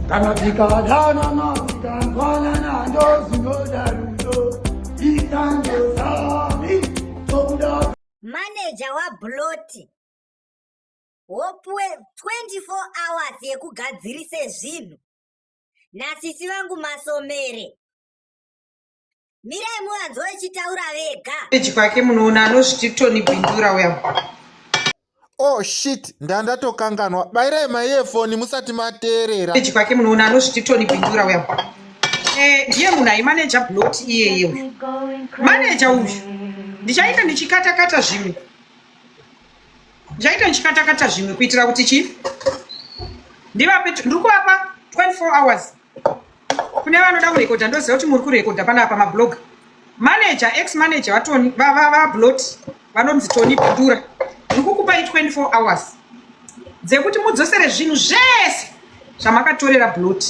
kana tikadanana tikanzwanana ndozinoda rudo itandozami tokuda maneja wabloti wopuwe 24 hours yekugadzirise zvinhu nasisi vangu masomere mirai muvanzwa vachitaura vega peji kwake munoona anozviti tony bindura uya oh shit ndandatokanganwa bairai maiyefoni musati mateerera peji kwake munoona anozviti tony bindura uya eh, ndiye munhu aimaneja blot iyeye uyu maneja uyu ndichaita ndichikatakata zvimwe ndichaita ndichikatakata zvimwe kuitira kuti chii ndivape ndiri kuvapa 24 hours kune vanoda kurekodha ndoziva kuti muri kurekodha panapa mablog manager ex manager vatoni vablot vanonzi toni bindura ndikukupai 24 hours dzekuti mudzosere zvinhu zvese zvamakatorera blot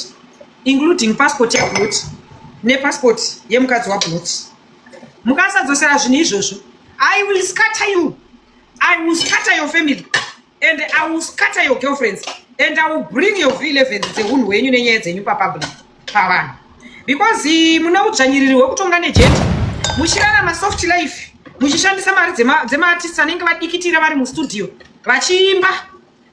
including passport yablot nepassport yemukadzi wablot mukasadzosera zvinhu izvozvo i will scatter you i will scatter your family and i will scatter your girlfriends and i will bring your v11 dzehunhu hwenyu nenyaya dzenyu papublic pavanhu because eh, mune udzvanyiriri hwekutonga nejeti muchirarama soft life muchishandisa mari dzemaartist anenge vadikitira vari mustudio vachiimba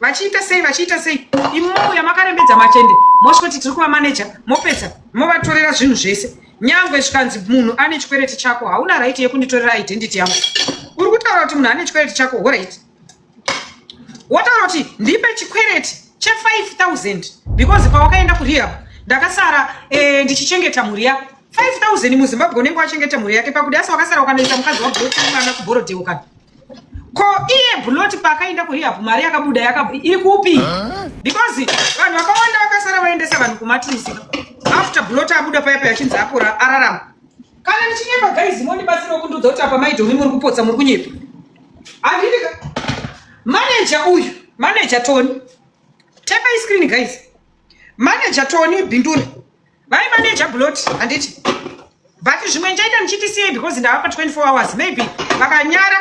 vachiita sei vachiita sei imomo yamakarembedza machende mosvoti tiri kuvamaneja mopedza movatorera zvinhu zvese nyangwe zvikanzi munhu ane chikwereti chako hauna raiti yekunditorera identity yangu uri kutaura kuti munhu ane chikwereti chako horaiti wotaura kuti ndipe chikwereti che5000 because pawakaenda kurehab ndakasara eh, ndichichengeta mhuri yako 5000 muzimbabwe unenge wachengeta mhuri yake pakuti asi wakasara ukanoisa mukadzi wabuloti mwana kubhorodheukana ko iye buloti paakaenda kurehab mari yakabuda iri kupi because vanhu vakawanda vakasara vaendesa vanhu kumatirisika after buloti abuda paya paya achinzi apora ararama Kana ndichinyepa guys mondibatsirawo kundiudza kuti apa maidhomi muri kupotsa muri kunyepa. Handidi ka. Manager uyu, manager Tony. Tapa screen guys. Manager Tony Bindura. Vai manager Blot handiti. But zvimwe ndichaita ndichiti sei because ndavapa 24 hours maybe vakanyara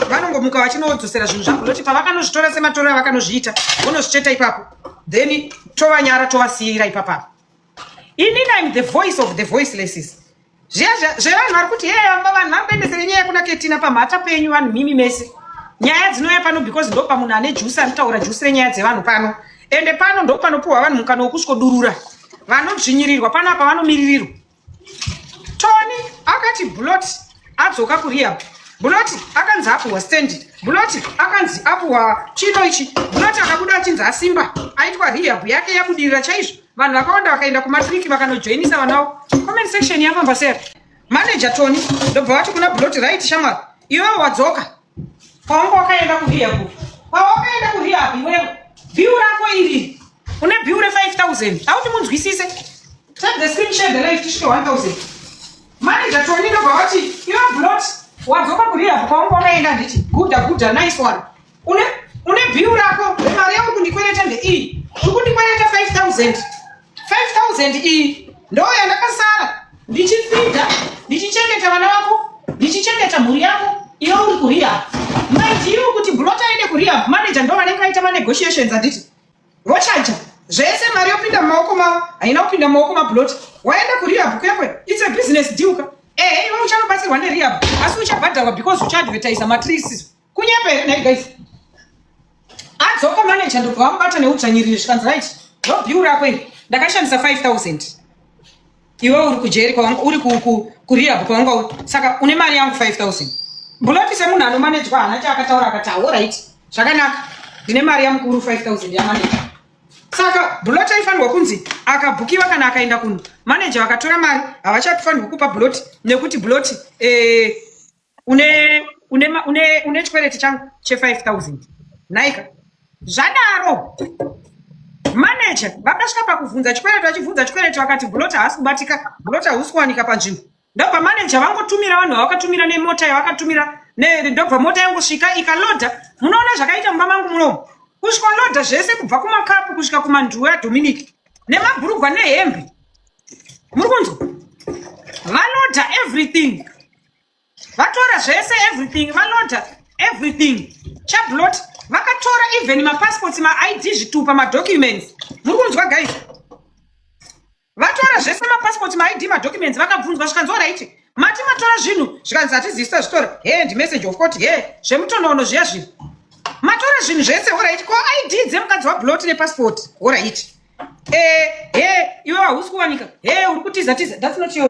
vanongomuka vachinodzosera zvinhu zvangu loti pavakanozvitora sematorero avakanozviita vonozvicheta ipapo then tovanyara tovasiira ipapapa ini im the voice of the voicelesses zviya zvevanhu vari kuti hee vamba vanhu vari kuendesere nyaya kuna ketina pamhata penyu vanhu mimi mese nyaya dzinouya pano because ndo pamunhu ane jusi anotaura jusi renyaya dzevanhu pano ende pano ndo panopiwa vanhu mukana wokusvodurura vanodzvinyirirwa pano apa vanomiririrwa tony akati blot adzoka kurehab blot akanzi apuhwa standard blot akanzi apuhwa chino ichi blot akabuda achinzi asimba aitwa rehab yake yabudirira chaizvo vanhu vakawanda vakaenda kumatriki vakanojoinisa vana vavo comment section yafamba sei manager tony ndobva vati kuna blot right shamwari iwewe wadzoka paunga wakaenda kuhiya ku pawakaenda kuhiya apo iwewe biu rako iri une biu re 5000 auti munzwisise take the screen share the life tisvike 1000 manager tony ndobva vati iwe blot wadzoka kuriya paunga wakaenda nditi guda guda nice one Une une bill rako mari yako kundikwereta ndeiyi. Uri kundikwereta 5000. 5000 iyi ndoo yandakasara ndichifidha ndichichengeta vana vako ndichichengeta mhuri yako iwe uri kurehab maidiu kuti blot aende kurehab manager ndo vanenge vaita manegotiations anditi vochaja zvese mari yopinda mumaoko mavo haina kupinda mumaoko mablot waenda kurehab kwekwe its a business deal ka ehe iwe uchanobatsirwa nerehab asi uchabhadharwa because uchaadvertisa matrees Kunyepa here nhai guys? Adzoka manager ndobva vamubata neudzvanyiriri zvikanzi right. Ndo bill rako iri. Ndakashandisa 5000. Iwe uri kujeri kwawanga uri ku ku kurehab kwawanga saka une mari yangu 5000. Buloti semunhu anomanejwa hana chaakataura akati all right. Zvakanaka. Ndine mari yamukuru 5000 yamanager. saka buloti aifanirwa kunzi akabhukiwa kana akaenda kuno manager vakatora mari havachatofanirwa kupa buloti nekuti buloti eh, une une une une chikwereti changu che 5000 naika zvadaro manager vakasvika pakuvhunza chikwereti vachivhunza chikwereti vakati bulota haasi kubatika bulota husi kuwanika panzvimbo ndobva manager vangotumira vanhu vavakatumira nemota yavakatumira ndobva mota yangosvika ikaloda munoona zvakaita mumba mangu munomu kusvika loda zvese kubva kumakapu kusvika kumanduwe adominic nemabhurugwa nehembe muri kunzwa valoda everything vatora zvese everything valoda everything chablot vakatora even mapassports maid zvitupa madocuments muri kunzwa guys vatora zvese mapassport maid madocuments vakabvunzwa zvikanzi orit mati matora zvinhu zvikanzi hatizivisa zvitora he ndimessage of court he zvemutonoono zviya zvinhu matora zvinhu zvese orit ko id dzemukadzi wablot nepassport orit e eh, he iwe wahusi kuwanika he uri kutiza tiza thats not your